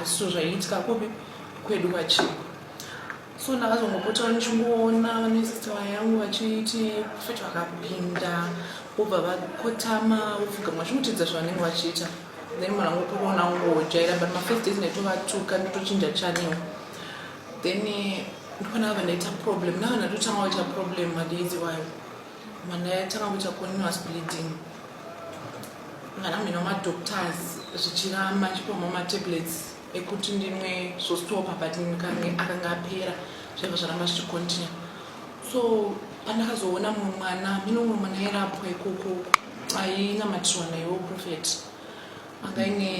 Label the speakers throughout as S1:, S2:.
S1: so zvaiitika kupi kwedu vachii so ndakazongopota vachingoona vanesistawa yangu vachiti profet vakapinda vobva vakotama vopfugama vachimutidza zvavanenge vachiita then mwana wangu kuona ngojaira but mafirst days ndaitovatuka ndotochinja chanel then eh, ndopana vava ndaita problem nava ndatotanga vaita problem madays iwayo mwana yatanga kuita continuous bleeding kana mina madoctors zvichiramba ndichipoma matablets ekuti ndimwe zvostopa but ndikange akanga apera zvaiva zvaramba zvichicontinue so pandakazoona mumwe mwana mino mumwe mwana airapwa ikoko ainamatirwa naiwo profet anga ine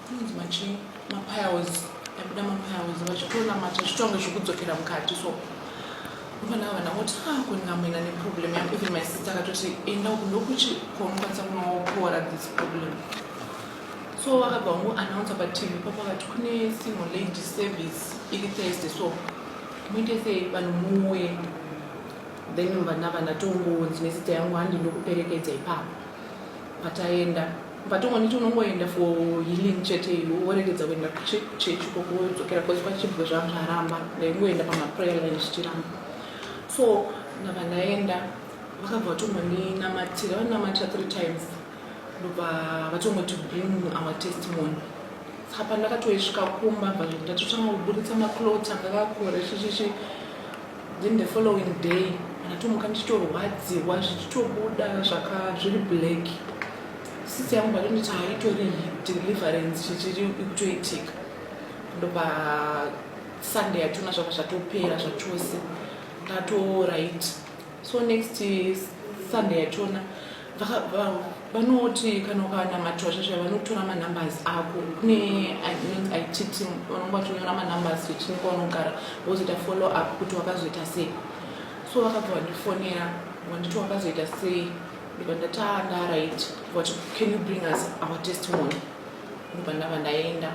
S1: kunonzi machi mapiles aibuda mapiles vachitoona machi zvitonge zvekudzokera mukati so vana vana voti ah kungamwena neproblem yako even my sister akatoti enda uku ndokuti kwaunokwanisa kunopora this problem so vakabva vangu announce patv papo vakati kune single lady service iri thursday so muitese vanhu muuye then vana vana tongonzi nezita yangu handi ndokuperekedza ipapo Pataenda patongoniti unongoenda for healing chete iwe woregedza kuenda kuchechi koko wodzokera bcause kwachibwe zvangu zvaramba ndaingoenda pamaprayer line zvichiramba so ndabva ndaenda vakabva vatongondinamatira vaninamatira three times ndobva vatongoti bring our testimony saka pandakatoisvika kumba bva ndatotanga kuburitsa maclot akakakure chichichi then the following day ndatomuka ndichitorwadziwa zvichitobuda zvaka zviri black sisi yangu vatonditi haitori deliverance chichiri ikutoitika ndopa sunday yatona zvaka zvatopera zvachose ndatorit so next sunday yachona vanoti kana ukanamatirwa zvazvaya vanotora manumbers ako kune it team vanonge vachonyora manumbers vechini kwaunogara vozoita follow up kuti wakazoita sei so vakabva vandifonera vanditi wakazoita sei ndikandataa ndaright vati can you bring us our testimony ndobva ndava ndaenda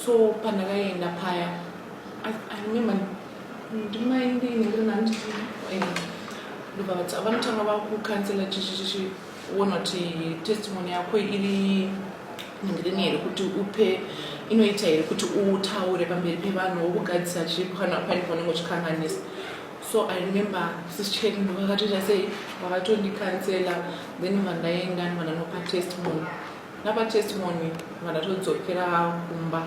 S1: so pandakaenda paya i remember vanotanga vakukansela chichichiona kuti testimony yako iri ngirini here kuti upe inoita here kuti utaure pamberi pevanhu wokugadzisa chipo kana pane paunenge uchikanganisa so i remember sischek ndovakatoita sei vakatondikansela then vandaenda vananopa testimony napa testimony vandatodzokera kumba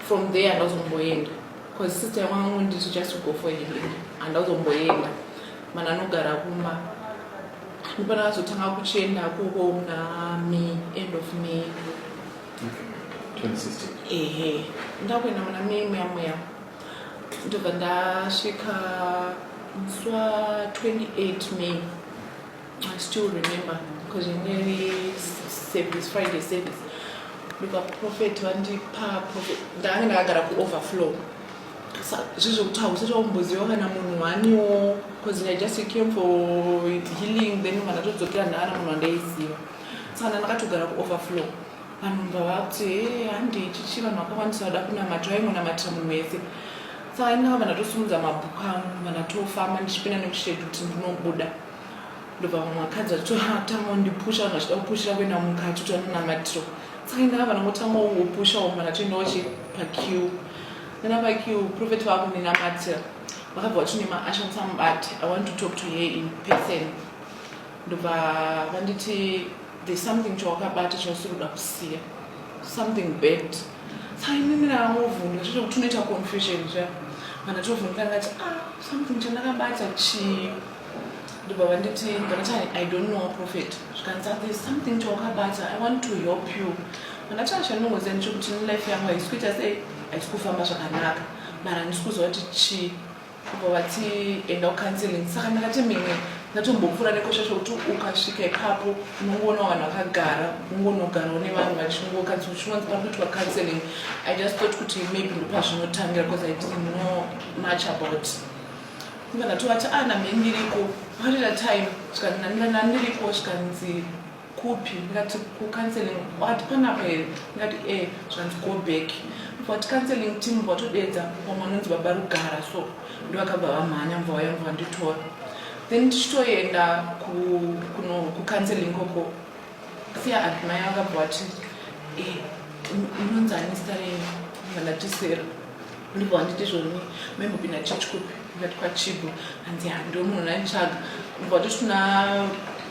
S1: from there ndazomboenda Cause sister wangu nditi just to go for healing handa kuzomboenda mana anogara kumba ndipana vazotanga kuchenda kuko muna may end of may ehe
S2: ndakuenda muna
S1: may muya muya ndobva ndasvika musi wa 28 may I still remember because in every service, Friday service, because prophet vandipa prophet ndanga ndakagara kuoverflow zvizvokuti hausati wakumboziva kana munhu waniwo bcause i just came for healing then kana todzokera ndaana munhu wandaiziva saka ndandakatogara kuoverflow vanhu mbava kuti he handi ichichi vanhu vakakwanisa vada kunamata vaingonamatira munhu wese saka inaa vana tosumudza mabhuku angu vana tofamba ndichipinda nekushedu kuti ndinobuda ndobva vamwe vakadzi vachitotanga kundipusha vanhu vachida kupushira kuenda mukati kuti vanonamatiro saka indaa vanhu votanga kungopusha umwe vanhu vatoendawo chi pakiu nana pakiu profeti vava kundinamatira vakabva vati nema ashanisa mubati i want to talk to her in person ndobva vanditi there's something chawakabata chausiri kuda kusiya something bad saka inini ndavovhunga zvito kuti unoita confusion zva vanhu vatovhunga ngati ah something chandakabata chii ndobva vanditi ndakati i don't know a prophet zvikanzi there is something chawakabata i want to help you ndakati achandinongoziva ndichokuti nelife yangu haisi kuita sei haisi kufamba zvakanaka mara handisi kuziva kuti chii kubva vati enda kucounseling saka ndakati mimwe ndatombopfuura nekosha chokuti ukasvika ipapo unongoona vanhu vakagara ungonogarawo nevanhu vachingokanzi uchingonzi pari kuitwa counseling i just thought kuti maybe ndopazvinotangira because i didn't know much about Ndikabva tovati ah name ndiriko pakarira time zvikanzi namira nani ndiriko zvikanzi kupi ndikati kucounseling wati panapa here ndikati e zvikanzi go back vati counseling team vatodeedza vamwe vanonzi baba rugara so ndovakabva vamhanya mva vaya mva vanditora then tichitoenda kucounseling koko siya admaya vakabva vati e inonzi anistarei vandatisera ndibva wanditi zvoni maimbopinda church kupi ndati kwachibo hanzi hando munhu naitsvaga ndibva wanditi tuna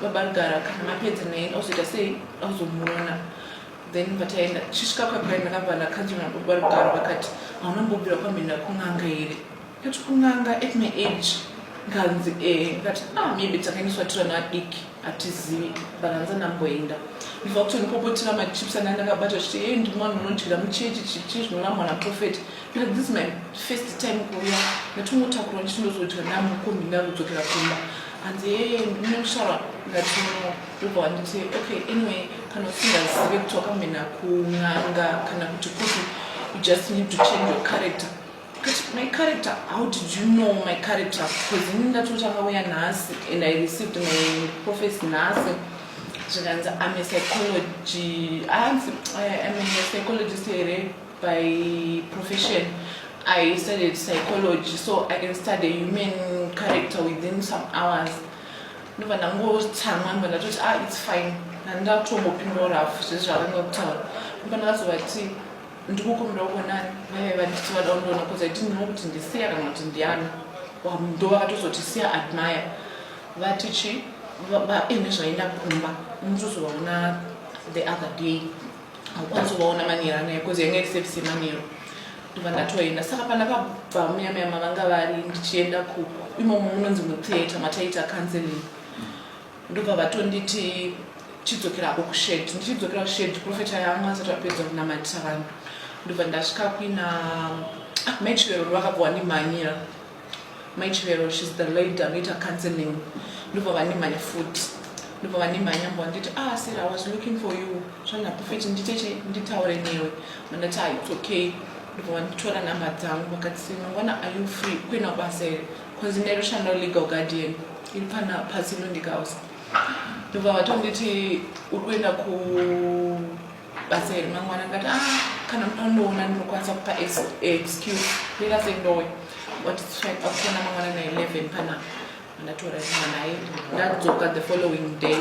S1: babarugara kana mapedza naye auzoita sei auzomuona then vataenda chisvika kwakai ndakabva ndakanzwa nababarugara vakati hauna mbobira kwamhenda kun'anga here kati kun'anga at my age nganzi e eh. ndikati ah maybe takaendeswa tirana adiki hatizivi but hanzi andamboenda ndibva kutondipopotera machips anga ndakabata chiti hey ndimwana unondyira muchechi chichi zvinoramwa naprofet because this my first time kuuya ndatongotakurwa ndichiti ndozodya ndamukombi ndakudzokera kumba hanzi hey ndinoshara ndatino ndobva wanditi okay anyway kana usingazive kuti wakamhena kun'anga kana kuti kuti you just need to change your character But my character, how did you know my character? Because ini ndatotanga uya nhasi and I received my prophecy nhasi zvikanzi I'm a psychology, I'm a psychologist here by profession. I studied psychology, so I can study human character within some hours. ndobva ndangotsamwa ndobva ndatoti ah it's fine handatombopindwa rafu zvezvavangakutaura ndobva ndakazovati ndikukumbira kuonani vaive vanditi vada kundiona kuza iti ndino kuti ndisiya kana kuti ndiani ndo vakatozotisiya admire vati chi vaine zvaenda kumba unotozovaona the other day haukwanisi kuvaona manero anaye bcause yanga iri sevisi yemanero ndova ndatoenda saka pandakabva muyamaya mavanga vari ndichienda ku imomo munonzi mutheatre mataita counseling ndobva vatonditi chidzokera hako kushed ndichidzokera kushed profeta yanga asati apedza kunamatisa vanhu ndobva ndasvika kuina ah, mai chivero vakabva vandimhanyira mai chivero shes the lady anoita counseling ndobva vandimhanya futi ndobva vandimhanya mbo vanditi ah sir i was looking for you zvana profet nditeche nditaure newe mandati ah it's okay ndobva vanditora number dzangu vakati mangwana are you free kuina basa here Kunzi neRushano Legal Guardian iri pana paSilundika House. Ndobva vatonditi uri kuenda kubasa here mangwana ndikati ah kana mutondoona ndinokwanisa kupa excuse ndikase ndowe wati akuona mangwana na 11 panapa ndatora zvinhu naye ndadzoka the following day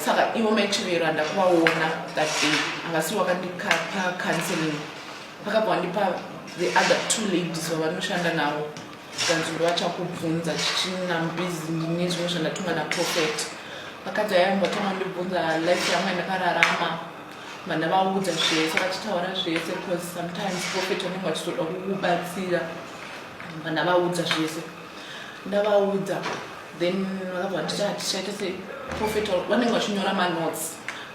S1: saka ivo maichivero andakuvaona that day angasi wakandikapa counseling vakabva vandipa the other two ladies vavanoshanda navo zvikanzi uri vachakubvunza chichina mbizi ndine zvimwe zvandatumwa naprofet vakadzi aya vatanga ndibvunza life yangu yandakararama vana vaudza zvese vachitaura zvese because sometimes profet vanenge vachitoda kukubatsira vana vaudza zvese ndavaudza then vakabva nditi hatichaita se profet vanenge vachinyora manotes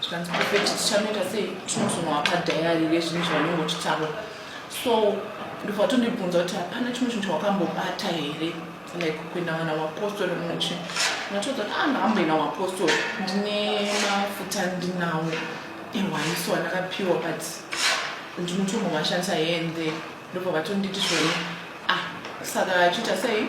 S1: zvikanzi profet tichanoita sei tinozonoapa dhayari rezvinhu zvavanenge vachitaura so ndobva vatondibvunza kuti hapana chimwe chinhu chawakambobata here like kuenda vana wapostori muchi natoudza kuti ah ndakamboenda wapostori ndine mafuta ndinawo ehwaniso andakapiwa but ndinotombovashandisa hende ndobva vatonditi zvone ah saka achiita sei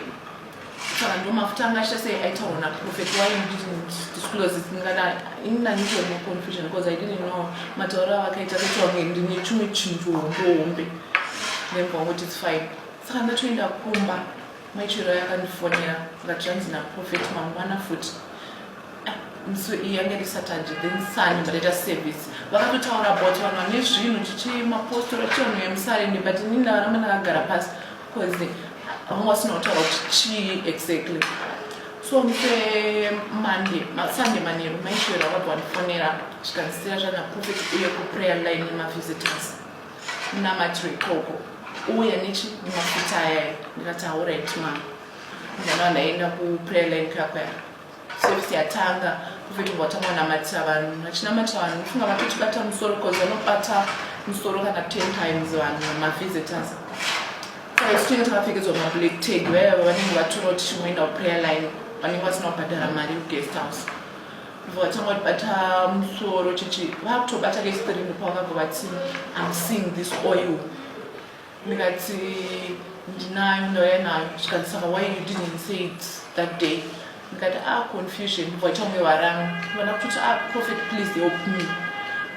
S1: saka ndo mafuta anga achita sei aitaurwa naprofet why you didn't disclose it ndingada ini ndanditoe no confusion because i didn't know matauro avakaita kutaura kunge ndine chimwe chinhu hombe then kwangoti its fine saka ndatoenda kumba maichero yakandifonera ngati zvanzi naprofet mangwana futi ah, mso yange ri saturday then sani ndataita service vakatotaura about vanhu vane zvinhu chichi mapostora chivanhu vemusarende but ini ndavaramba ndakagara pasi Cause vamwe vasina kutaura kuti chii exactly so mse monday sunday manheru maishoera vabva vandifonera zvikandisira zvana prophet uye kuprayer line nemavisitors munamatiro ikoko uye nechi nemafuta ayaya ndikati haurit ma ndana ndaenda kuprayer line kakwaya Service yatanga kuvhetwa kwatanga kunamatira vanhu vachinamatira vanhu ufunga vatotibata musoro because vanobata musoro kana ten times vanhu mavisitors saisinga takapfekedzwa mablack tag vaya vanenge vatora kuti chimboenda kuprayer line vanenge vasina kubhadhara mari yeguest house vatanga kutibata musoro chichi vakutobata kestrini pavakabva vati am seeing this oil ndikati ndinayo ndauya nayo zvikanzi saka why you didn't say it that day ndikati a ah, confusion ndobva vaita kunge varanga vana kuti a ah, prophet please help me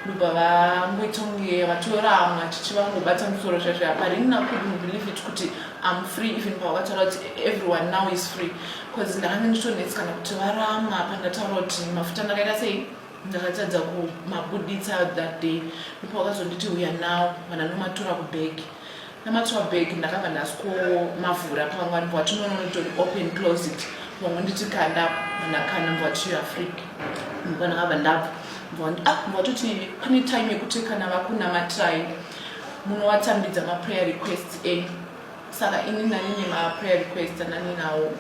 S1: ndobva vangoita kunge vatora amwe achichi vangobata musoro zvazvo aparinina couldn't believe it kuti am free even pavakataura kuti everyone now is free bcause ndakanga nditonetsi kana kuti varama pandataura kuti mafuta ndakaita sei ndakatadza kumabuditsa that day ndipo wakazonditi uya nawo kana ndomatura kubag namatura bag ndakabva ndasikomavhura pamwe anbva wati nononotori open closet pamwe nditi kanda ndakanda mbva wati youare free ndipo ndakabva ndabva mbva ah, watoti pane time yekuti kana vakunamatirai munowatambidza maprayer requests enyu saka ini nani nema prayer request anani nawo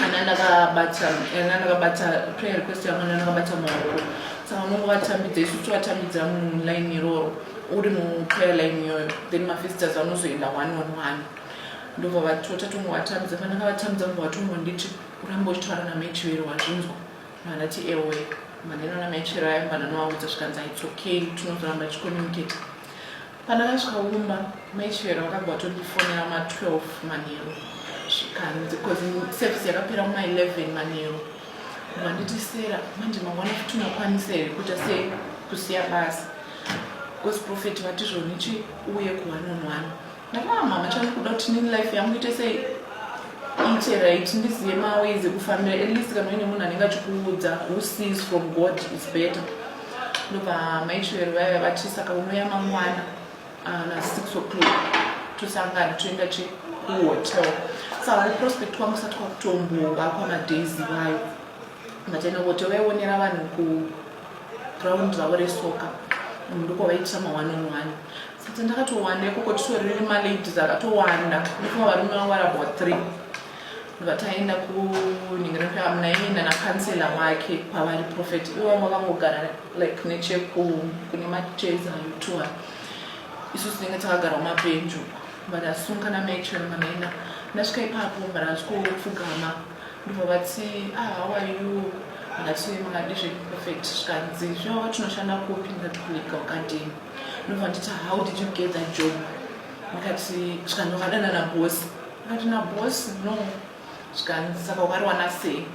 S1: ana ndakabata ana ndakabata prayer request yangu ana ndakabata maoko saka unongo vatambidza isu tivatambidza muline iroro uri muprayer line iyoyo then mafisters anozoenda one on one ndobva vatota tongo vatambidza kana ndakavatambidza mubva vatongo nditi uramba uchitaura namechivero wazvinzwa vanati ewe maneno namechivero ayo mbana novaudza zvikanzi its okay tinozoramba tichicommunicate Pandakasvika kumba mai Chivero vakabva vatondifonera ma 12 manheru zvikanzi because service yakapera kuma 11 manheru vanditi sera manje mangwana futi unakwanisa here kuita sei kusiya basa because profeti vati zvonichi uye kuhwani on hwani ndakaa mama chandikuda kuti nini life yangu ite sei iite right ndizive maways ekufambira at least kana uine munhu anenge achikuudza who sees from god is better ndobva maitwero vaiva vati saka unouya mangwana ah, na six o'clock tosangana toenda che kuhotel saka kuprospect kwangu sati kwakutombova kwamadays vayo mataenda kuhotel vaionera vanhu kuground ravo resoka ndoko vaitisa maone on one saka ndakatowanda ikoko titoriri maladies akatowanda ndifunga varume vangu vari about three ndobva taenda kuningirana kuti amunaini nana kansela wake kwavari profet ivanga vangogara like nechekune macheza yotuwa isu tinenge takagara mapenjo vadasunga namatron vanaina ndasvika ipapo vadasikupfugama ndobva vati ah, how are you ndati makadi zveprofet zvikanzi zvava tinoshanda kupi ndati kulika wakadini ndobva nditi how did you get that job ndikati zvikanzi wakadanana bosi Ndikati naboss no zvikanzi saka ukariwana sei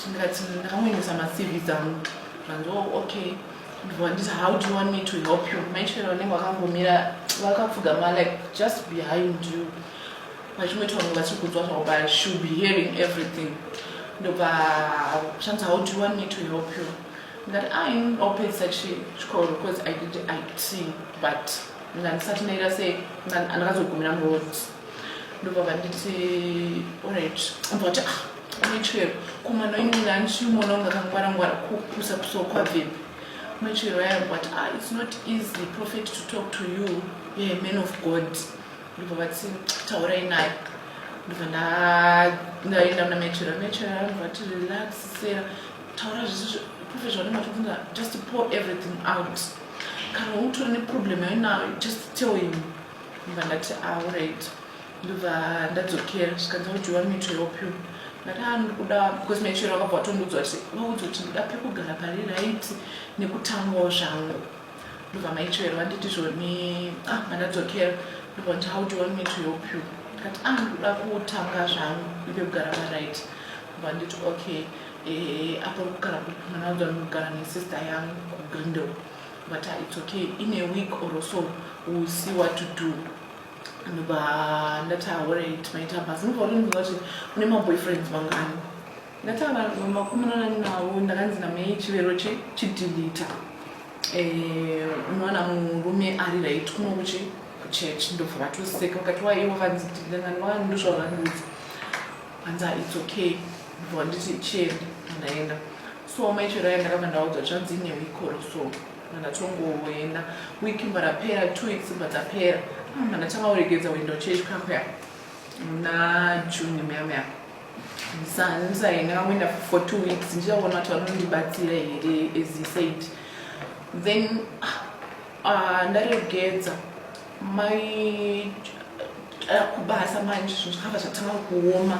S1: ndikati ndakangoendesa macv dzangu zvanzi oh, okay ndivanditi how do you want me to help you maitwere vanenge vakangomira vakapfugama like just behind you vachimweti vange vachikudzwa zvavo but should be hearing everything ndobva shanzi how do you want me to help you ndikati ai ndopedzisa chikoro because i did it but ndandisati ndaita sei ndakazogumira muroads ndobva vanditi orit ambva kuti ah maichwero kumana inini andichimuona kunge akangwarangwara kukusa kusokwa bvembe maichwero ayambva kuti ah its not easy prophet to talk to you yeah, man of god ndobva vati taurai naye ndobva ndaenda muna maichwero maichwero ayambva kuti relax sera taura zvese prophet zvanematobvunza just pour everything out kana utori neproblem yainayo just tell him ndobva ndati auright ndobva ndadzokera zvikanzi audiwa mito yopyo ndati a ndiri kuda because maichero akabva atondiudzwa kuti vaudzwa kuti ndida pekugara pari right nekutangawo zvangu ndobva maichero vanditi zvoni a ah, mandadzokera ndobva nditi audiwa mito yopyo ndikati a ah, ndiri kuda kutanga zvangu ndipekugara pari right ndobva nditi okay eh, apo kugara mwana audzwa ndinogara nesister yangu kugrindel but uh, it's okay in a week or so we'll see what to do ndobva ndati aorit maita basa ndobva urinzwa kuti une maboyfriends mangani ndati makumunana nawo ndakanzi namai chivero chidilita eh, unowana murume ari right kuno kuchi kuchurch ndobva vatoseka vakati waiye wakanzi dilitangani wakanzi ndozvavandiudza hanzi ah, it's okay ndobva nditi chienda ndaenda so mai chiraya ndakabva ndaudzwa zvanzi ine wikoro so mandatongoenda wiki marapera two weeks bva dzapera mandatanga ah, kuregedza kuenda kuchechi kakuya muna june muyamuyama ndisaenda kangoenda for two weeks ndichaona kuti vanondibatsira here as he said then uh, ndaregedza mai eh, kubasa manje zvinhu zvakabva zvatanga kuoma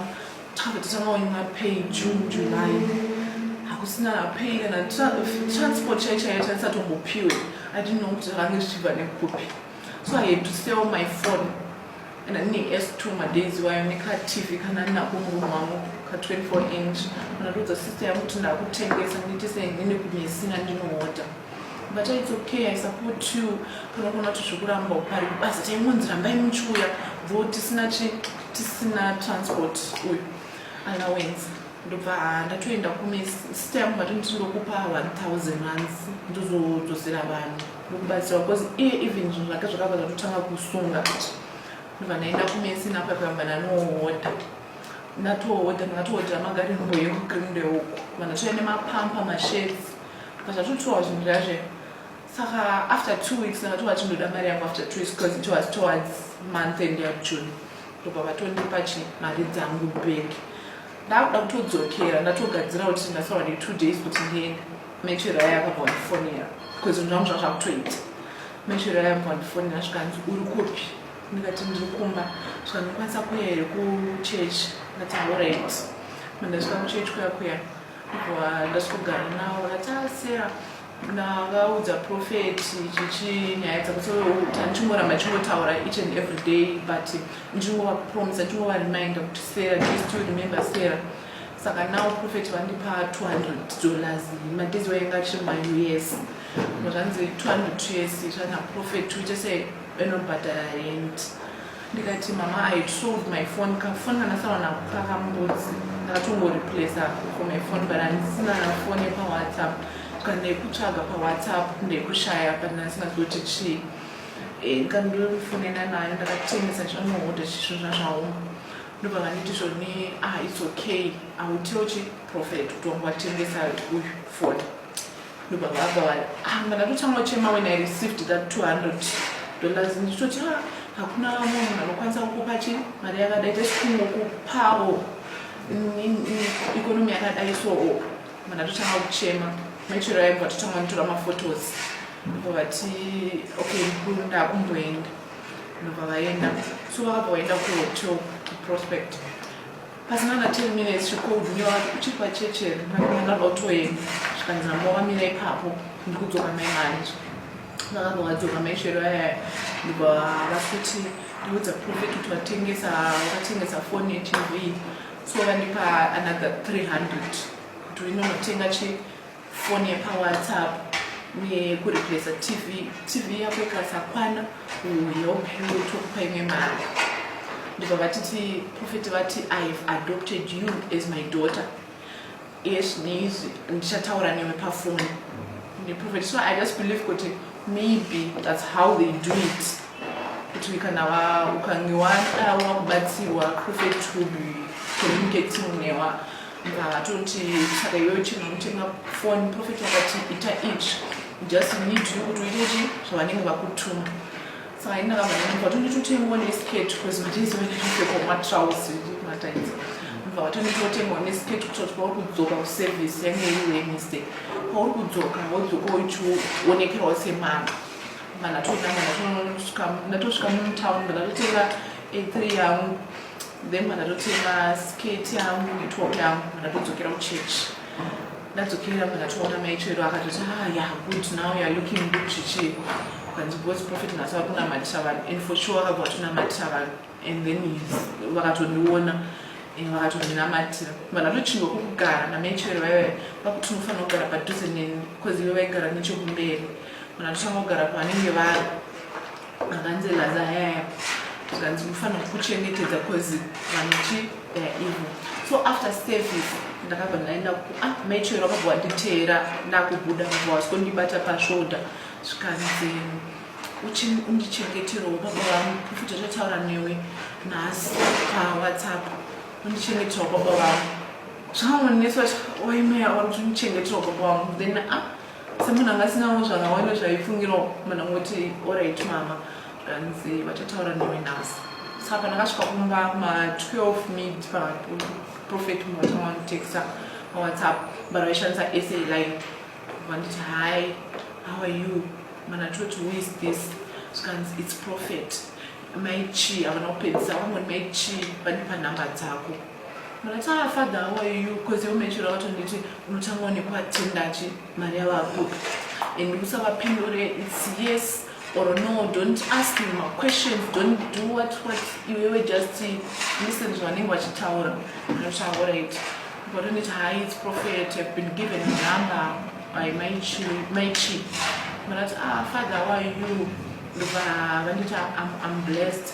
S1: takabva tatanga kunyima pay june july hakusina pay kana transport chai chaiyo tatisatombopiwe adinno kuti zvakange zvichibva nekupi so i had to sell my phone and ane s two madays wayo nekatv kana ndinako murume wangu ka 24 inch kana ndodza sister yangu kuti ndakutengesa nditise ndine kumisina ndinoota but it's okay i support you unogona kuti zvekuramba upari kubasa taimunzi rambai muchiuya though tisina tisina transport uyu allowance ndobva ah, ndatoenda kume sita yangu vati nditi ndokupa 1000 runs ndozodzosera vanhu ndokubatsira because iye even zvinhu zvake zvakabva zvatotanga kusunga kuti ndobva ndaenda kumesi napapamba nanohodha natohodha ndakatohodhera magari mboyekugrindeuku vanhu toya nemapampa mashedzi but atotiwa zvinhu zvazve saka after two weeks ndakatova chindoda mari yangu after two weeks because it was towards month end yajune ndobva vatondipa chi mari dzangu back ndakuda kutodzokera ndatogadzira kuti ndasaura ne two days kuti ndiende mechera yakabva wandifonera because zvinhu zvangu zvanga zvakutoita mechera yakabva wandifonera zvikanzi uri kupi ndikati ndiri kumba zvikanokwanisa kuya here kuchurch ndati horit mandasvika kuchurch kuya kuya ndasvikugara navo ratasera ndakaudza prophet chichi nyaya dzakutichingoramba chingotaura each and every day but ndichingovapromisa chingova remind kuti sera just to remember sera saka now prophet vandipa 200 dollars madezi wainga achiri ma us zvanzi 200 us zvana prophet uite sei vanobhadhara rent ndikati mama i sold my phone kafoni kandasara nako kakambudzi ndakatongoreplacer for my phone but handisina fone pawhatsapp kana ndekutsvaga pawhatsapp ndekushaya but ndandisingati kuti chii eh, ndikandofonena nayo ndakatengesa zvanohoda chisvo zvazvaoma ndobva vanditi zvoni ah its okay autiochi prophet kuti wangu watengesayo uyu foni ndobva vakawari ah, kana totanga chema when i received that 200 dollars ndichitoti ah, hakuna vamwe munhu anokwanisa kukupa chi mari yakadai tesikungokupawo ikonomi yakadai soo mana totanga kuchema machero yaimbwa totanga nitora maphotos ndobva vati okay ndakumboenda ndobva vaenda so vakabva vaenda kuhotel prospect pasina na 10 minutes she called me wati uchiri pachechi here ndakanyana ndotoenda zvikanzi namba wamira ipapo ndikudzoka mai manje ndakabva wadzoka mai shero yaya ndibva vakuti ndiudza profit kuti vatengesa vakatengesa foni yetv so vandipa another 300 kuti inonotenga chi foni yepawhatsapp uye kureplacer tv tv yako ikasakwana uyokupa imwe mari ndibva vatiti profeti vati i have adopted you as my daughter yes neizvi ndichataura newe pafoni neprofeti so i just believe kuti maybe that's how they do it kuti kana ukange wada wakubatsirwa profeti will be communicating newa Hatonti saka iwewe chino unotenga foni profeti akati ita ichi just need you kuti uite chi zvavanenge vakutuma saka ini ndakavaaa vatonitotengawo nesket bcause matizi vaitopfekwa matraus mataidza mva vatonitotengawo nesket kutoa kuti pauri kudzoka kuservice yange iri wednesday pauri kudzoka wodzoka uchiwonekerwa semana manatoinaa ndatosvika mutown ndakatotenga a3 yangu then mandatotenga skirt yangu netop yangu mandatodzokera kuchurch ndadzokera mandatoona maichero akatoti ah ya good now youare looking good zvichii kanzi bos profit nhasi vari kunamatisa vanhu and for sure vakabva vatonamatisa vanhu and then vakatondiona and vakatondinamatira mandatochingwa kukugara namaichero vaive vakuti unofanira kugara padhuze neni bcause ive vaigara nechekumberi mandatochanga kugara pavanenge vari Akanzi laza yaya zvikanzi mufanira kuchengetedza cause vanoti they are evil so after service ndakabva ndaenda ku ah maichero akabva wanditeera ndakubuda bva wazikondibata pashoda zvikanzi undichengeterawo baba vangu kufuta zvataura newe nhasi pawhatsapp undichengeterawo baba vangu zvaonesa waimeya wandichengeterawo baba vangu then ah semunhu anga asinawo zvakawanda zvaifungira munhu angoti orit mama zvanzi vachataura newe nhasi saka ndakasvika kumba ma12 mid paprofet muvatanga vanotexta mawhatsapp but vaishandisa sa line vanditi hi how are you mana toti who is this zvikanzi its prophet mai chii havana kupedzisa vamoni mai chii vane panhamba dzako Munotanga father how are you because you mentioned about nditi unotanga onekwa tendachi mari yava kupi and usavapindure it's yes or no don't ask him a question don't do what what iwewe just listen zvavanenge vachitaura zvinotaura iti vatoneti hai its prophet have been given a number by my chief vanati ah father why you ndobva vanditi am blessed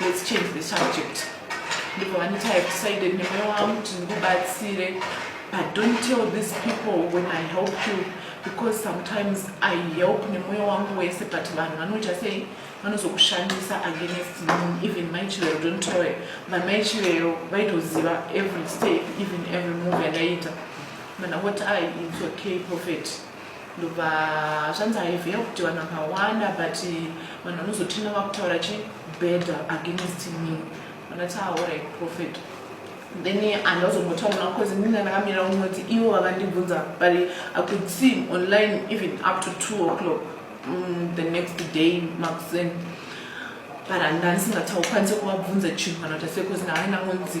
S1: Let's change the subject. Ndipo vaniti I decided nemoyo wangu kuti ndikubatsire but don't tell these people when I help you because sometimes I help nemoyo wangu wese but vanhu vanoita sei vanozokushandisa against me even mai chivero don't tell her vamai chivero vaitoziva every step even every move yandaiita mana what I it's okay prophet ndobva zvanzi haive kuti vanhu vakawanda but vanhu vanozotina vakutaura chi bad against me vanati aorai ah, prophet then andazombotaura because ndinga ndakamirira kunoti ivo vakandibvunza but i could see online even up to two o'clock mm, the next day makusen but handandisingataukwanise kuvabvunza chinhu kana kuti ase because ndavai ndangonzi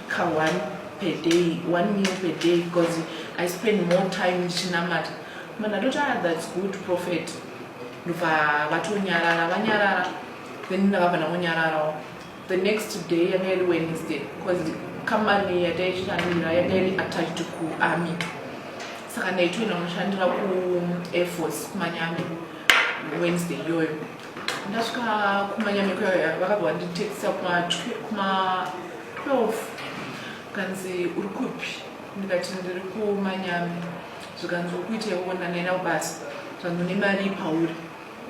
S1: ka one per day one meal per day because i spend more time ndichinamata munhu atoti ah that's good prophet ndobva vatonyarara vanyarara then ndavabva ndangonyararawo the next day yanga iri wednesday because company yataichitanira yanga iri attached kuarmy saka ndaitoenda kunoshandira kuair force kumanyame wednesday iyoyo ndasvika kumanyame kuyoyo vakabva vanditexisa kuma 12 kanzi uri kupi ndikati ndiri kumanyami zvikanzi ukuita iwona naina kubasa zvanzi une mari pauri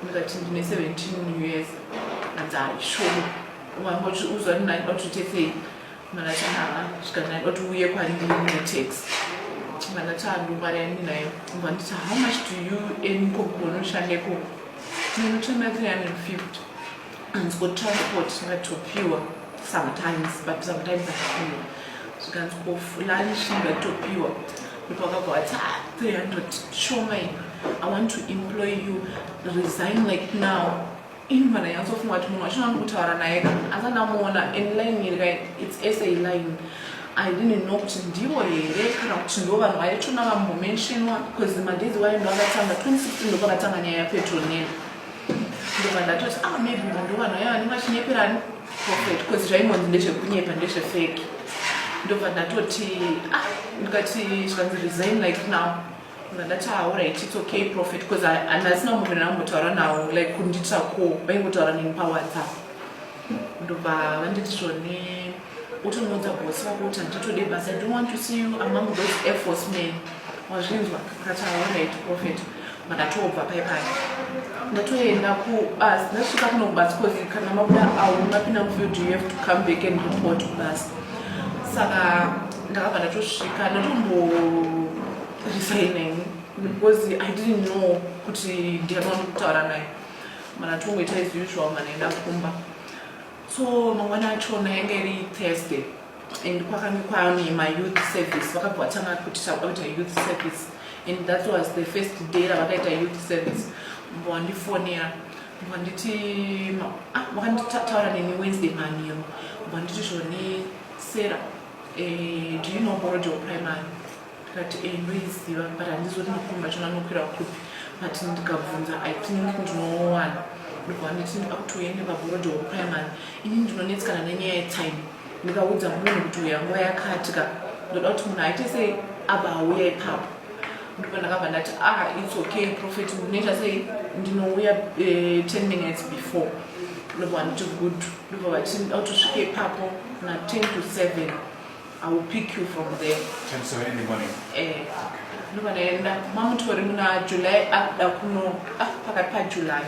S1: ndikati ndine 17 years anzaishomo wangoti uzwa ndinaida kuti utesei manati haa zvikanai kuti uye kwandinetax manati andumari ani nayo vanditi how much do you earn kokunoshande koko ndinotoima 350 hanzi ko transport tingatopiwa sometimes but sometimes apiwa zvikanzi ko fulani zvingatopiwa ndipo akabva vati 300 shoma ini i want to employ you resign like now ini mwana yanzofunga kuti munhu wachinoani kutaura naye ka asi andamuona in line iri kai its sa line i didn't know kuti ndivo here kana kuti ndo vanhu vaitona vambomentionwa bcause madezi waye ndo akatanga 2016 ndo pakatanga nyaya yapetrol nene ndobva ndatoti ah maybe vanhu vanhu aya vanenge vachinyeperani prophet because zvaingonzi ndezvekunyepa ndezvefeki ndobva ndatoti ah ndikati zvikanzi resign like now ndandati aorit ah, its okay prophet because handasina munhu ndinambotaura nawo like kundiitira ko vaingotaura neni pawhatsapp ndobva vanditi zvone Uti unoudza boss wako kuti handitode basa, I don't want to see you among those Air Force men. Wazvinzwa? Ndikati alright prophet. Ndakatobva paye paye. Ndatoenda ku bus, ndasvika kuno kubus because kana mabuda awo mapinda mufield you have to come back and report kubus. Saka ndakabva ndatosvika ndatombo resigning because I didn't know kuti ndiyani wandikutaura naye. Mana tongoita as usual manaenda kumba. so mangwana achona yanga iri thursday and kwakange kwaane mayouth service vakabva vatanga kuti takuda kuita youth service and that was the first day ravakaita youth service mbo wandifonera mbo wanditi ah, vakanditaura neni wednesday maniro mbo wanditi zvone sera eh, do you know borojo primary ndikati e ndoiziva but handizoti makombi achona anokwira kupi but ndikabvunza i think ndinowana ndobva nditi ndida kuti uye nevaborodi wekuprimary ini ndinonetsikana nenyaya yetime ndikaudza munhu kuti uya nguva yakatika ndoda kuti munhu aite sei aba auya ipapo ndipo ndakabva ndati ah its okay prophet ndinoita sei ndinouya eh, ten minutes before ndobva nditi good ndobva vati ndida kuti usvike ipapo na ten to seven I will pick you from there. Ten seven in the
S2: morning. Eh. Ndova
S1: ndaenda mamutori muna July akuda kuno ah pakati pa July.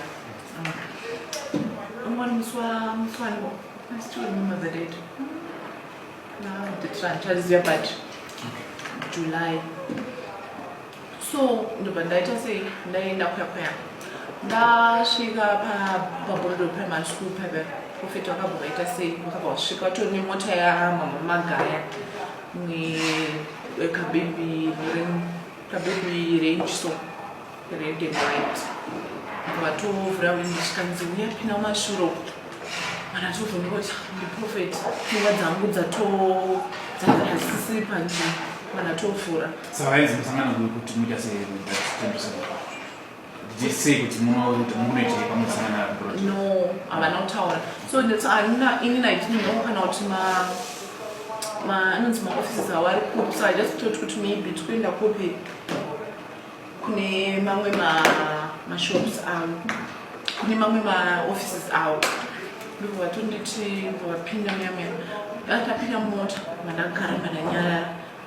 S1: Umwe musi wa musi wangu. I still remember the date. Now the trantazia but July. so ndobva ndaita sei ndaenda kwakwaya ndasvika paborodo primary school paive profeti vakabva vaita sei vakabva vasvika vatori nemota yamama magaya nekabebi kabebi range so red and white vatovhura windi zvikanzi uya pina mashuro mana tovhunoti ndiprofeti pfungwa dzangu dzatodzakasisi panzvimbo mana tovhura Savaenzi musangano
S2: uyu kuti muita sei mutendesa sei kuti munoita mukunoitei pamusangana abroad? No,
S1: havana kutaura. So that's anina ini na didn't know kana kuti ma ma anonzi ma offices awari kupi. So I just thought kuti maybe tikuenda kupi kune mamwe ma ma shops avo. Kune mamwe ma offices avo. Ndiko vatonditi vapinda muya muya. Ndakapinda mota mandagara mandanyarara.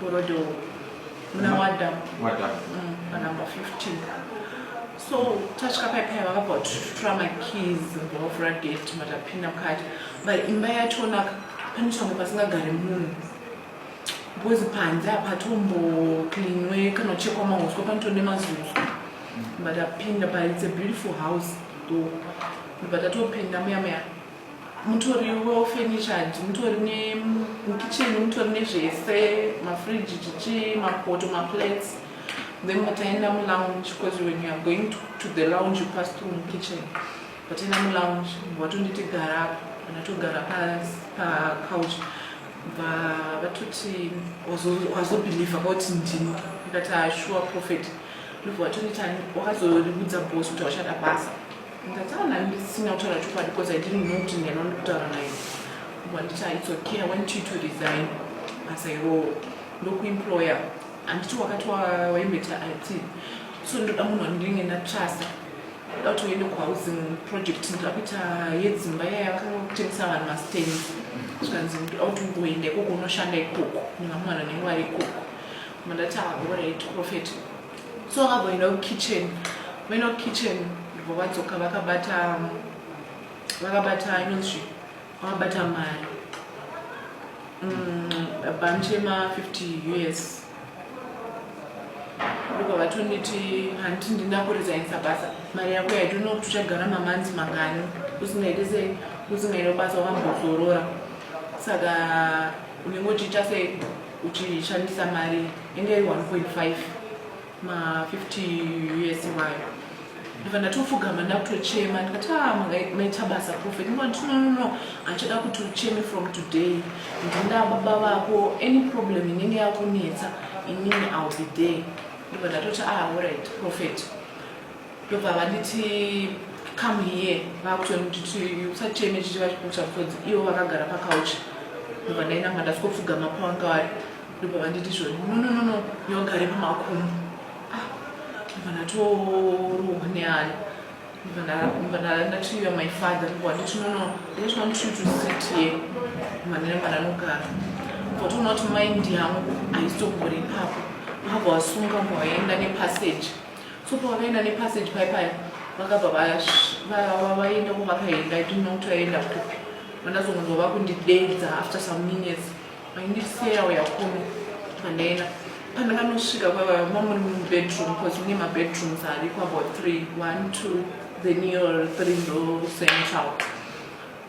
S1: Gorodo muna Wadam. Wadam. Mm, panumber 15. So tasvika paya paya vakabva kututura makeys vakavhura gate matapinda mukati but imba yatonaka pane change pasingagare munhu because panze hapatombo cleanwe kana uchekwa mahuswa panotone mazuzu but apinda but it's a beautiful house though but atopinda muya muya mutori wefurniture mutori mukicheni mutori nezvese mafridge chichi mapoto maplates then mukataenda mulounge because when you are going to, to the lounge you pass through mukitchen ukataenda mulounge watonditi gara apa kana togara pacouch bva vatoti wazobhilivha kauti ndini ikati ashuwa ah, prophet ndobva watonditi wakazoribudza bos kuti wachada basa ndataura naye ndisina kutaura chokwadi because i didn't know kuti ndiyani wandiri kutaura naye wanditi its okay i want you to resign as i roll ndokuemployer handiti wakati waimboita it so ndoda munhu wandinenge ndatrasta ndoda kuti uende kuhousing project ndoda kuita yedzimba yaya yakanga kutengesa vanhu mastendi zvikanzi ndoda kuti ungoenda ikoko unoshanda ikoko nevamwana nenge vari ikoko mandati aorit ah, profet so vakavoenda kukitchen vaenda kukitchen ndibva vadzoka vakabata vakabata inonzi vakabata mari mm, bhanchi yema 50 us ndiko vatonditi handiti ndinda kurizainisa basa mari yako yaitoona kuti uchagara mamanzi mangani usingaite se usingaite basa wakambozorora saka unenge uchiita sei uchishandisa mari inge iri 1.5 ma 50 us iwayo ndibva ndatofugama ndakutochema ndikati a ah, maita basa profet ndikati no no no handichada kuti ucheme from today ndinda baba vako any problem inenge yakunetsa inini ill be there ndibva ndatoti a ah, orit profet ndobva vanditi come here vakutonditi usacheme chiti vachikucha because ivo vakagara pakaucha ndobva ndainanga ndasikopfugama pavanga vari ndobva vanditi zvoni nononono yogare pamakumbo ah, ndobva ndatorohwa neani ndatiya my father wanditi nono that's one true to sit here manene mananogara votoona kuti mind yangu haisogore ipapo vava vasunga mwaenda nepassage so pavakaenda nepassage pai paya vakabva vaenda kwavakaenda i didn't know kuti vaenda kupi vandazongonzwa vakundideedza after some minutes vaindiseya uya kuno pandaenda pandakanosvika kwavaya mamuri mubedroom bcause mune mabedrooms ariko about three one two then your three ndo central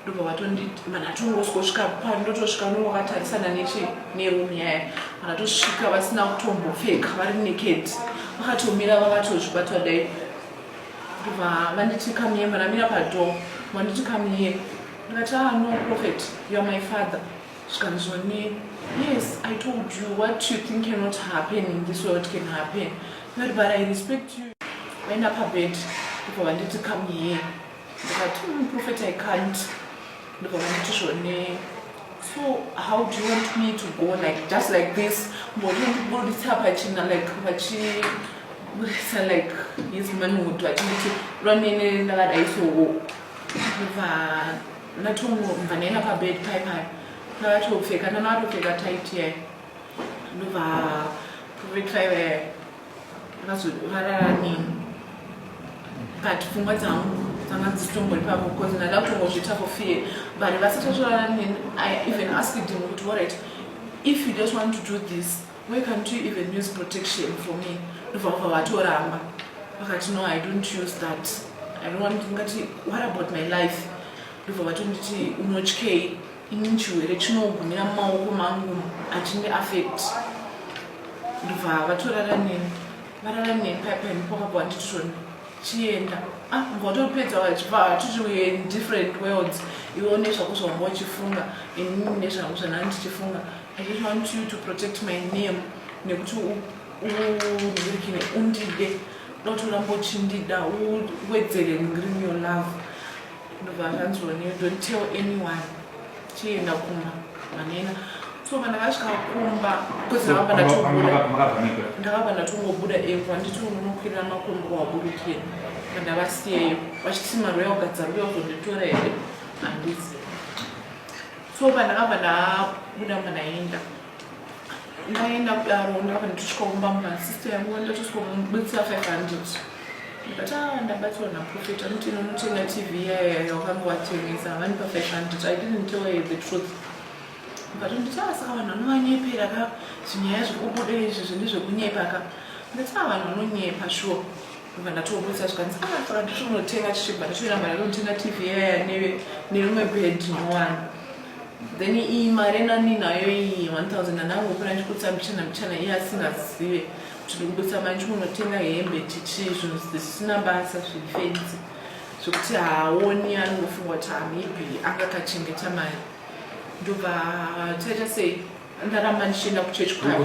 S1: ndobva vatonditi mana tongosvika pano ndotosvika unenge wakatarisana neche neroom yaya mana tosvika vasina kutombopfeka vari naked vakatomira vakatozvibatwa dai ndobva vanditi kamiye manamira padoo vanditi kamiye ndikati ah no prophet youare my father zvikanzoni yes i told you what you think cannot happen in this world can happen but but i respect you vaenda pabed ndobva vanditi kamiye ndikati mm, prophet i can't ndikamuti zvone so how do you want me to go like just like this mboiburitsa pachina like vachiburisa like his manhood vachinditi lwanene ndakadai so ndibva ndatomubva ndaenda pabed pai pai ndavatopfeka ndanavatopfeka tight yai ndobva prophet five Vazorarani but pfungwa dzangu dzanga dzisitombori pavo because ndada kutongozviita for fear but vasatotorara neni i even asked him kuti alright if you just want to do this why can't you even use protection for me ndobva kubva vatoramba vakati no i don't use that i don't want ngati what about my life ndobva vatonditi unotyei ini chirwere chinogumira mumaoko mangu achindi affect ndobva vatorara neni varara neni paipaini pokabva wandititoni chienda ah, ngotopedza vachibva hatiti different worlds iwo nezvako zvavanga uchifunga ini nezvangu zvanaa ndichifunga i just want you to protect my name nekuti undirikine undide dotoramba uchindida uwedzere ngirimi your love ndobva zvanzi one you don't tell anyone chienda kumba manena so kana vasvika kumba ndakabva ndatongobuda epo handiti unonokwirira makombo waburukira mandavasiyeyo vachiti maroya ugadza ruya uzonditora here handizi so pandakabva ndabuda mandaenda ndaenda kudaro ndava ndichikaumba mumba sister yangu ndatosomubatsira 500 ndikati a ndabatsirwa naprofet anoti inonotenga tv yaya yawakange watengesa havani pa 500 i didn't tell her the truth ndikati nditi a saka vanhu vanovanyepera ka zvinyaya zviri kubuda izvi zvine zvekunyepa ka ndikati a vanhu vanonyepa sure ndobva ndatoburitsa zvikanzi ah saka nditonotenga tichibva ndatoenda mari yekunotenga tv yaya neve nerimwe bed nowani then iyi mari nani nayo iyi 1000 anangu kuna ndikutsa mbichana mbichana iye asingazive kuti ndikubutsa mari ndikunotenga hembe tichi zvinhu zvisina basa zvifenzi zvekuti haaoni anongofunga kuti hamebi ah, anga kachengeta mari ndobva taita sei ndaramba ndichienda kuchechi kwayo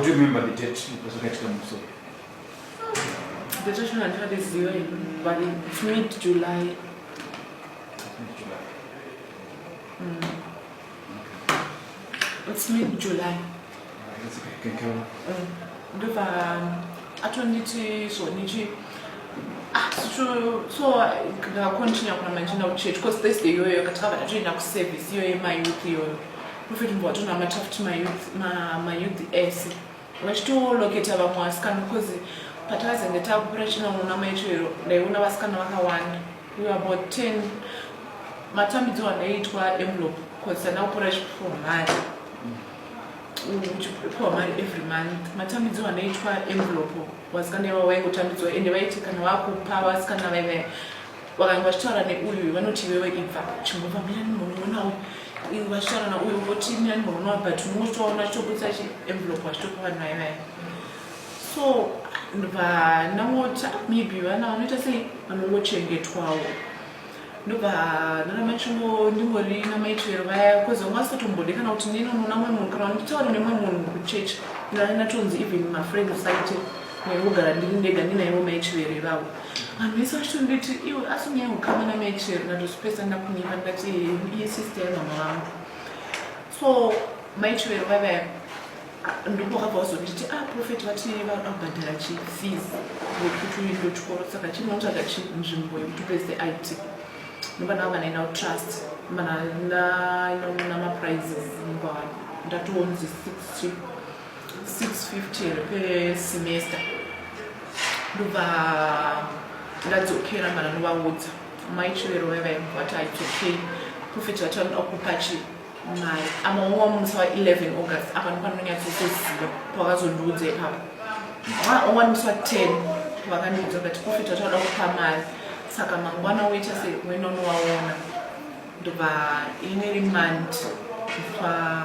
S1: It's mid July. Ndova atonditi zvonichi ah, so ndakakontinya kuna manjina kuchurch because this day iyoyo katakabva tatoenda kuservice iyoyo mayouth iyoyo profit mbowatona matafuti mayouth ese vachitoloketa vamwe vasikana because patakazenge takupira china unoona maichoero ndaiona vasikana vakawanda we about 10 matambidzo andaiitwa envelope because tanda kupora chipiwa mari uchipiwa mari every month matambidzo andaiitwa envelope vasikana iva vaingotambidzwa ende vaiti kana vakupa vasikana vaive vakanga vachitaura neuyu vanoti iwewe ibva chimbova mira nemurume uyu iwe vachitaura nauyu voti mira nemurume wavo but unenge uchitovaona achitobudisa chienvelop achitopa vanhu vaye vaye so vanangoti maybe vana vanoita sei vanongochengetwawo ndobva nanamachingo ndingori namaitwero vaya bcause vanga vasatombode kana kuti neni unoona mwe munhu kana nditaure nemwe munhu kuchurch ndanatonzi even mafriends aite nekugara ndiri ndega ndinaivo maitwero ivavo vanhu vese vachitonditi iwe asi nyaya ukama namaichero ndatozvipesa ndakunyima ndati iye sister yamama vangu so maichero vave ndokokabva wazonditi a ah, profet vati vabhadhara chifees nekuti uindo chikoro saka chinotsvaga chi nzvimbo yekuti upese it nobana vavanaina utrust mana namaprizes mukwavanhu ndatoonzi six 650 per semester ndobva ndadzokera mana novaudza mai chivero vaya vaya vati aidzokei profet vati vanoda kupa chi mari amaowa musi wa 11 august apa nopanonyatsotoziva pavazondiudza ipapo aowa musi wa 10 vakandiudza vati profet vati vanoda kupa mari saka mangwana woita se wenonovaona ndobva ine remandi pa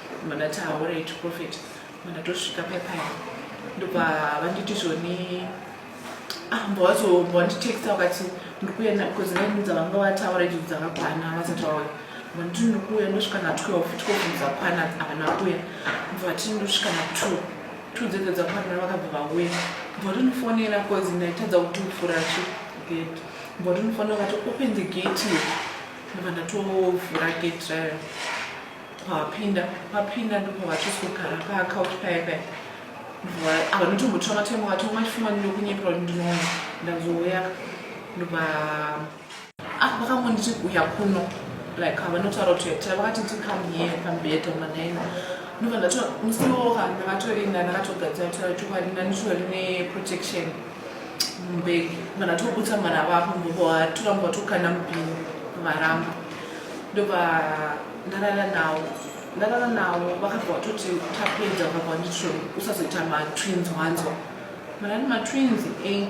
S1: Mandati haurei to prophet mandatosvika paya paya ndobva vanditi zvoni ambowazovanditexta ah, wakati ndikuuya because ndainudza vanga vataura izvi dzakakwana vasati vauya vanditi ndikuuya ndosvika na12 12 dzakwana havana kuya ndovati ndosvika na2 two dzedzo dzakwana vakabva vauya mbotinofonera because ndaitadza kuti ufura chi gate mbotinofonera vakati open the gate ndobva ndatovhura gate rayo pavapinda vapinda ndopavachizogara paakauti paya paya vanotombotora matemo vati umaifumani ndokunyepera kuti ndinoona ndazouya ndobva ah, vakangonditi kuya kuno like havanotaura kuti yatira vakati tikam here pambeta manaina ndobva ndato musi woka ndakatorinda ndakatogadzira kutaura kuti kwadi ndanditori neprotection mbeki ndobva ndatobutsa mwana vapo mbovatora mbovatokanda mubhini varamba ndobva ndarara nawo ndarara nawo vakabva vatoti tapedza vakabva vanditi usazoita matwins wanzwa marani matwins e eh,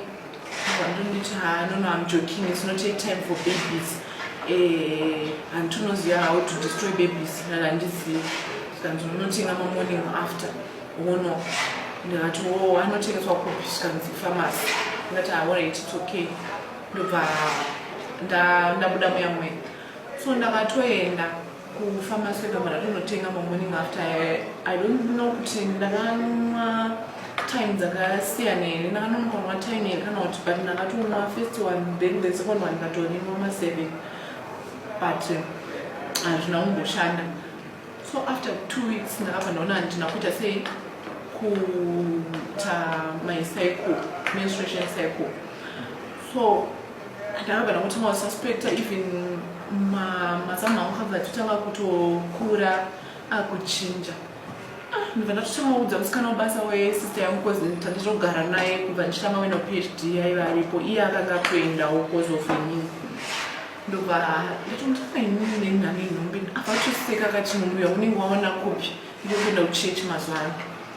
S1: vandonditi ha nono am joking its not a time for babies eh, handinoziva how to destroy babies nani handizivi zvikanzi unonotenga mamorning after wono ndikati wo oh, anotengeswa kupi zvikanzi famasi ndikati aorit ah, its okay ndobva ndabuda muya mwena So ndakatoenda kufamasi yegamara tonotenga mamorning after i don't know kuti ndakanwa time dzakasiyana here ndakanonokanwa time here kana kuti but ndakatonwa first one then the second one ndatorinwa maseven but eh, hazvina kumboshanda so after two weeks ndakabva ndaona handina kuita sei kuita my cycle menstruation cycle so ndakagara kutanga kususpecta even mazamu angu kabva totanga kutokura akuchinja ah, ndibva ndatotanga kuudza musikana webasa wesister yangu bcause tanditogara naye kubva ndichitanga wena phd yaiva aripo iye akanga atoendawo bcause of inini ndobva ndatomutanga inini nenhani inhombi avatoseka kati mumuya unenge waona kopi ndikuenda kuchechi mazuva ano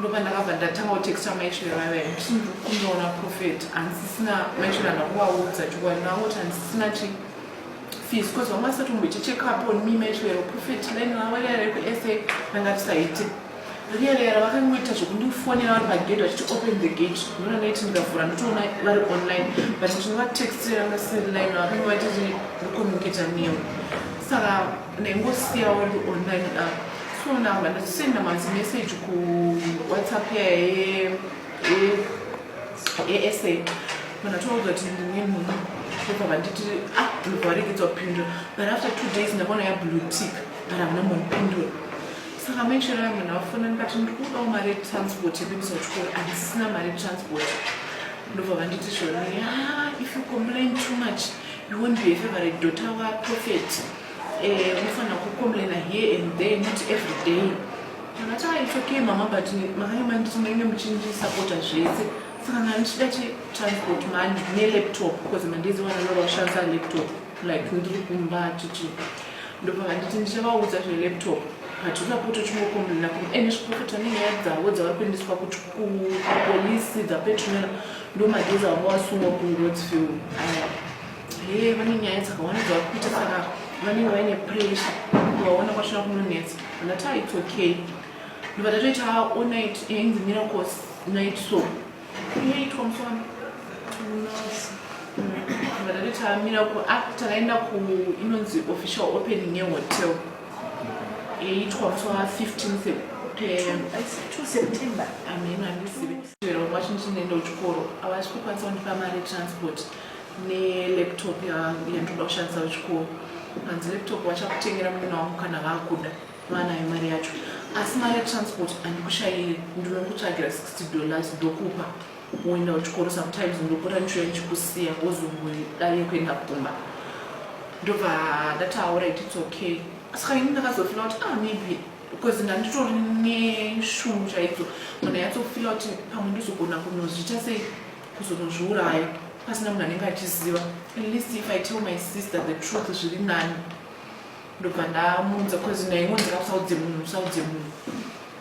S1: ndopandakabva ndatanga kutexta maisviro vaiva ndisi ndikunoona profet handisisina maisviro anda kuvaudza chokwadi ndangoti handisisina chi fees bcause vanga vasati kumboita checkup on me maisviro profet line ravo riya rekusa ranga risaite riya riya ravakangoita zvekundifonera vari pagate vachiti open the gate ndona ndaiti ndikavhura ndotoona vari online but ndinovatextira vasiri line ravo vakange vaitati recommunicata neo saka ndaingosiyawo ndi online app so ndanga ndachisenda mazimeseji kuwhatsapp yaye yesa vanatouza kuti ndine munhu obva vanditi ah ndobva varegedza kupindura but after two days ndakaona yablue tick but havana mbonipindura saka menshero yangu ndavafona ndikati ndiri kudawo mari yetransport yekuendesa kuchikoro andisisina mari yetransport ndobva vanditi zvona ya ah, if you complain too much Iwe ndiye favorite daughter wa prophet. Eh, unofanira kucomplaina here and there not every day. Ndakati ah it's okay mama but makanga manditi munenge muchindisapota zvese. Saka ndandichida chi transport mani ne laptop because mandiziwa nalova kushandisa laptop like ndiri kumba chichi. Ndobva vanditi ndichavaudza zve laptop but usapote uchingocomplaina kuti ene eh, zviprofita nenyaya dzavo dzavari kuendeswa kuti kupolisi dzapetromera ndomageza wanga wasungwa kungotsfil aya he vane nyaya dzakawanda dzavakuita saka vanenge vaine pressure kuvaona kwasvina kunonetsa andati ah, its okay ndobva tatoita all night yainzi eh, miracles night so yaitwa musana ndobva tatoita miracle ah, takaenda ku inonzi official opening yehotel yaitwa musi wa 15 september ameno andizive chero mwacho ndichinoenda kuchikoro havasi kukwanisa kundipa mari yetransport nelaptop yandinoda kushandisa kuchikoro hanzi laptop vachakutengera muna wangu kana vakuda vanayo mari yacho asi mari yetransport handikushayire ndinokutsvagira 60 dollars ndokupa woenda kuchikoro sometimes ndopota ndichiuya ndichikusiya wozongodaye kuenda kumba ndobva ndataura it its okay saka ini ndakazofila kuti ah maybe because ndanditori neshungu chaidzo munhu yatsofila kuti pamwe ndizogona kunozviita sei kuzonozviuraya pasina munhu anenge achiziva at least if i tell my sister the truth zviri nani ndobva ndamuudza bcause naingonzi kakusaudze munhu usaudze munhu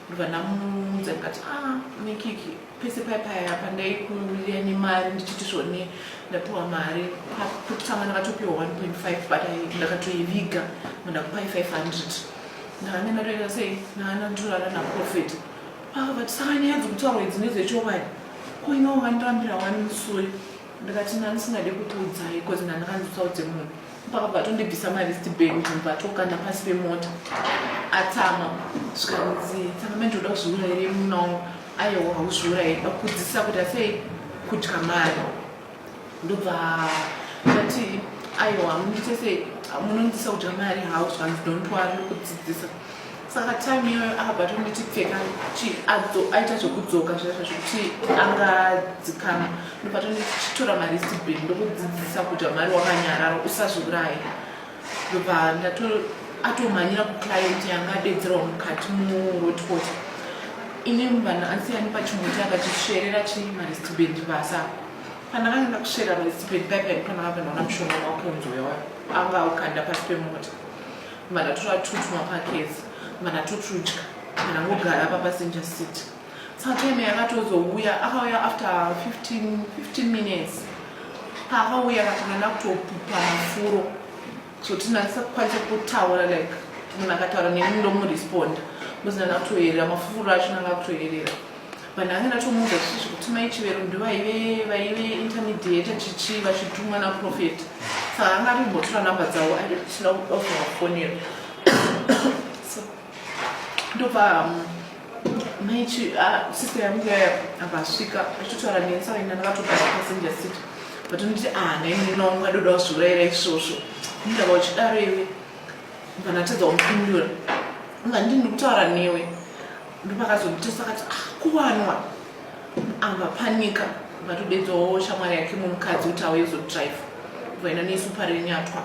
S1: ndobva ndamuudza ndikati a ah, nekiki pese paya paya pandaikumira nemari ndichiti zvone ndapiwa mari pakutanga ndakatopiwa 1.5 but ndakatoiviga mandakupai 500 ndakanga ndatoita sei ndakanga ndorara naprofet ava vati saka nyaya dzokutaurwa idzi nedzechovani ko inowo vandirambira wani musuri ndakati ndandisingade kukuudzai bcause ndandakanzotsaudze munhu pakabva tondibvisa malisti bag kuti mubatokanda pasi pemota atama zvikanzi tsamamai ndinoda kuzviura here munawo ayewo hauzviura here dakukudzisisa kuti asei kudya mari ndobva ndati ayewa mundiite sei munondisa kudya mari hau zvikanzi don't wari nokudzidzisa saka time iyoyo akabva tonditi pfeka chi aita zvekudzoka zvaita zvekuti angadzikama ndobva tonditi chitora maristi bheni ndokudzidzisa kuti amari wakanyarara usazviuraye ndobva ndato atomhanyira kuclient yanga adedzerwa mukati murotpot ini vanhu ansiyani pachimuti akachisverera chi maristi bheni basa pandakanga ndakusverera maristi bheni paipai pandakabva ndaona mushonga wakunzoyawa anga aukanda pasi pemota Mana tura tutwa pakezi, mana tutrudya, mana ngogara pa passenger seat. Satime yakatozouya, akauya after 15, 15 minutes. Paakauya akatanga nakutopupa mafuro. So tinakisa kukwanisa kutaura like munhu akataura neni ndomuresponda. Muzina nakutoyerera, mafuro acho nanga kutoyerera. vanhu vange ndatomuudza zvisizvi kuti mai chivero ndovaive vaive intermediate chichi vachitumwa naprofet saka anga atombotora number dzavo aisina kudakuvafonera so ndobva um, mai ah, sister yangu yaya akasvika achitotaura neni saka ina ndakatogara passenger seat but nditi ah nainina wangu adoda wazviurayira isvosvo ndava uchidaro iwe vanatadza kumupindura nga ndini ndikutaura newe ndopakazomutesa akati ah, kuwanwa amba panika ukatodedzawo shamwari yake mumukadzi kuti auye zodrive vaenda nesu parenyatwa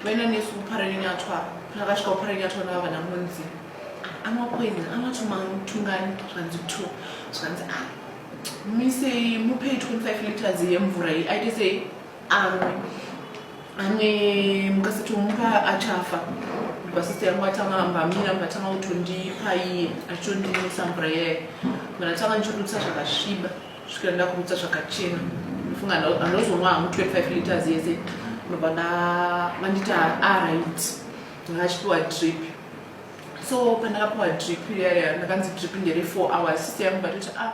S1: vaenda nesu parenyatwa pakasvika parenyatwa nava vana munzi amapweni amatomamutungani zvanzi two zvanzi a ah, misei mupei 25 liters yemvura iyi aite sei amwe amwe mukasati umuka achafa basister yangu atanga ambamira mukatanga kutondipa iye achitondinisa mvura iyayo kana tanga ndichirutsa zvakasviba svikira ndakurutsa zvakachena ndofunga andozonwa hamu 25 liters yese ndobva ndavandita arit ndakachipiwa drip so pandakapiwa drip iyaya ndakanzi drip ndere 4 hours sister yangu vatoti a ah,